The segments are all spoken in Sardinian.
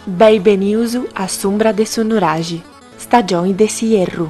Bei benius a s'umbra de su nuraxi, stagioni de s'ierru.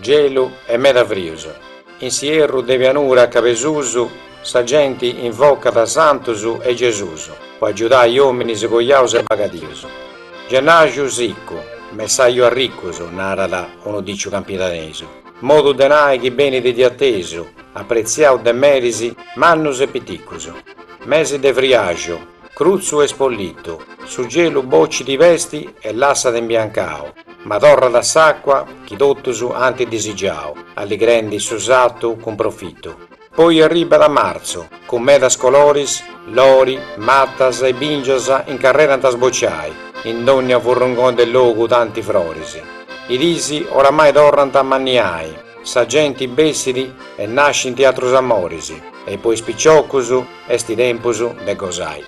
Gelu e meda frius. In s'ierru de pianura a Cabesusu sa genti invocat santus e Gesusu po agiudai ominis coiaus e bagadius. Gennaxu siccu, messaju arriccus, narat unu diciu campidanesu, modu de nai chi benit de atesu, apretziau de meris mannus e piticcus. Mesi de friaxu. Crutzu e spollittu, su gelu bocit i pesti e lassat imbiancau, ma torrat s'acqua chi tottus ant disigiau, alligrendi su sattu cun profittu. Poi arribat martzu, cun medas coloris, lori, mattas e bingias incarrerant a sbociai, in dogna furrungoni de logu tanti froris. I dis oramai torrant a ammanniai, sa genti bessit e nascint atrus amoris e po is picioccus, Est tempus de gosai.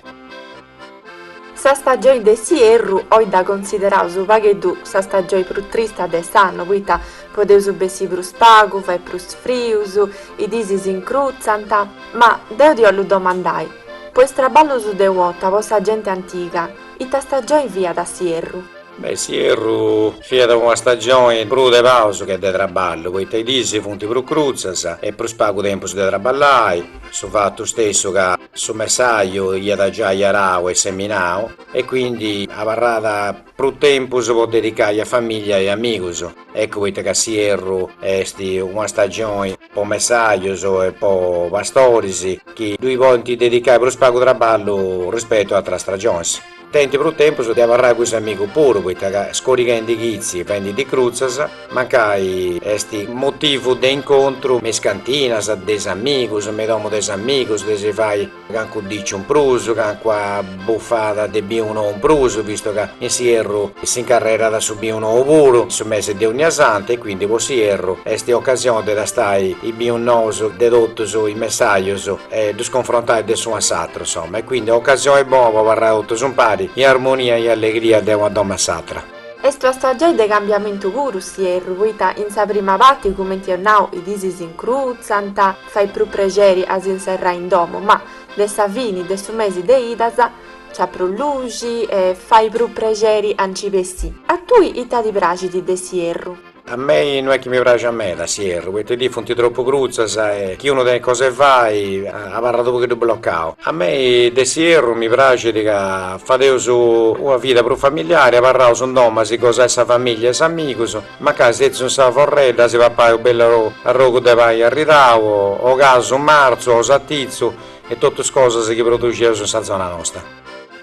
Sa stagioi de s'ierru oi dda consideraus u pagheddu sa stagioi prus trista de s'annu poita podeus bessi prus pagu, fait prus frius, i dis s'incrutzant. Ma deu ti 'ollu domandai, po is traballus de uota po sa genti antiga, ita stagioi fiat s'ierru? Be', s'ierru fiat una stagioni prus de pausa che de traballu, poita i dis funt prus crutzas e prus pagu tempus de traballai, su fatu stessu ca su messaju iat giai arau e seminau e quindi abarrat prus tempus po dedicai a famiglia e amigus, eccu poita ca s'ierru est una stagioni po messajus e po pastoris chi ddui podint dedicai prus pagu traballu rispetu a atras stagionis. Tenint prus tempus de abarrai cun s'amigu puru poita ca scorighendi chitzi fendi dis crutzas mancai est motivu de incontru me is cantinas de is amigus me i domu de is amigus de si fai cancu diciu in prus cancua bufada de binu nou in prus vistu ca in s'ierru si incarrerat su binu nou puru in su mesi de onniasanti e quindi po s'ierru est occasioni de tastai is binus nous de totus is messajus e ddus confrontai de s'unu a s'atru. Insomma, e quindi ocasioi bona po abarrai totus impari, in armonia e in allegria de una domo a s'atra. Est una stagioi de cambiamentu puru s'ierru, poita in sa prima parti, cumenti eus nau, is dis s'incrutzant, fait prus prexeri a si inserrai in domu, ma de sa fini de su mesi de idas nc'at prus luxi e fait prus prexeri a nci bessì. A tui ita ti praxit de s'ierru? A mei no est chi mi praxia meda s'ierru, poita is dis funt tropu crutzas e chi unu tenit cosa 'e fai abarrat u' pogheddu blocau. A mei de s'ierru mi praxit ca fadeus una vida prus familiari, abarraus in domu a si gosai sa familia e s'amigus, mancai setzius in sa forredda a si papai u' bellu arrogu de pani arridau o casu marzu o satitzu e totus cosas chi produxeus in sa zona nosta.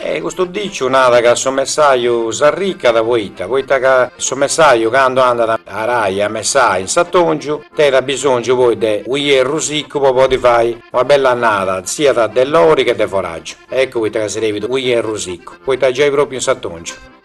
E custu diciu nada ca su messaju s'arricat poita, poita ca su messaju candu andat a arai, a messai in s'atongiu, teit abisongiu poi de unu ierru siccu po podi fai una bella annada siat de lori che de foraju, eccu poita ca srebit unu ierru siccu, poita giai propriu in s'atongiu.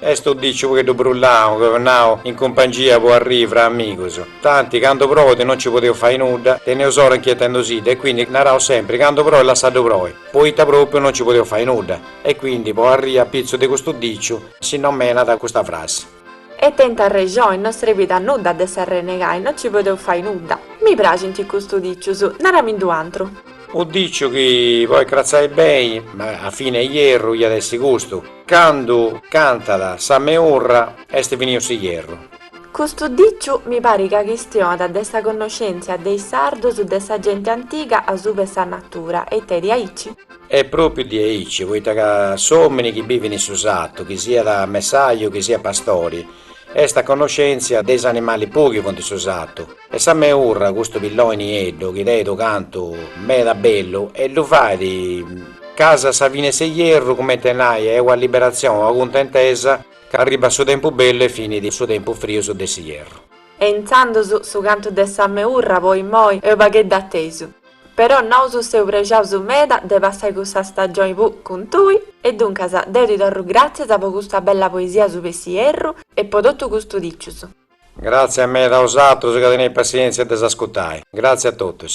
Est unu dìciu u' pogheddu brullau, cumenti nau in cumpangia po arrii fra amigus. Tanti, candu proit no nci podeus fai nudda, teneus a s'ora inchietendusidda e quindi naraus sempri candu proit lassaddu proi, poita propriu no nci podeus fai nudda. E quindi po arrii a pitzus de custu dìciu si nomenat custa frassi. E tenint arrexoni, no srebit a nudda de s'arrenegai, no nci podeus fai nudda. Mi praxint custu dìcius, naramindi un'atru. Unu dìciu chi, podit cratzai beni, ma a fini 'e ierru iat essi custu. Candu cantat sa meurra est finiu s'ierru. Custu diciu mi parit ca chistionat de sa connoscèntzia de is sardus de sa genti antiga asubu 'e sa natura, est diaici? Est pròpiu diaici, poita ca s'òmini chi bivit in su satu, chi siat messaju, chi siat pastori, Est a connoscèntzia de is animali puu chi funt in su satu e sa meurra, custu pilloni nieddu chi tenit unu cantu meda bellu e ddu fait casi a sa fini 'e s'ierru cumenti a nai est una liberatzioni, una cuntentesa ca arribat su tempus bellu e finit su tempus frius de s'ierru. E intzandus su cantu de sa meurra po immoi est unu pagheddu atesu. Però nosu seus prexaus meda de passai custa stagioni puru cun tui, e duncas deu ti torru gràtzias po custa bella poesia asuba 'e s'ierru e po totu custu dicius. Gràtzias meda a osatrus ca teneis passièntzia de s'ascutai. Gràtzias a totus.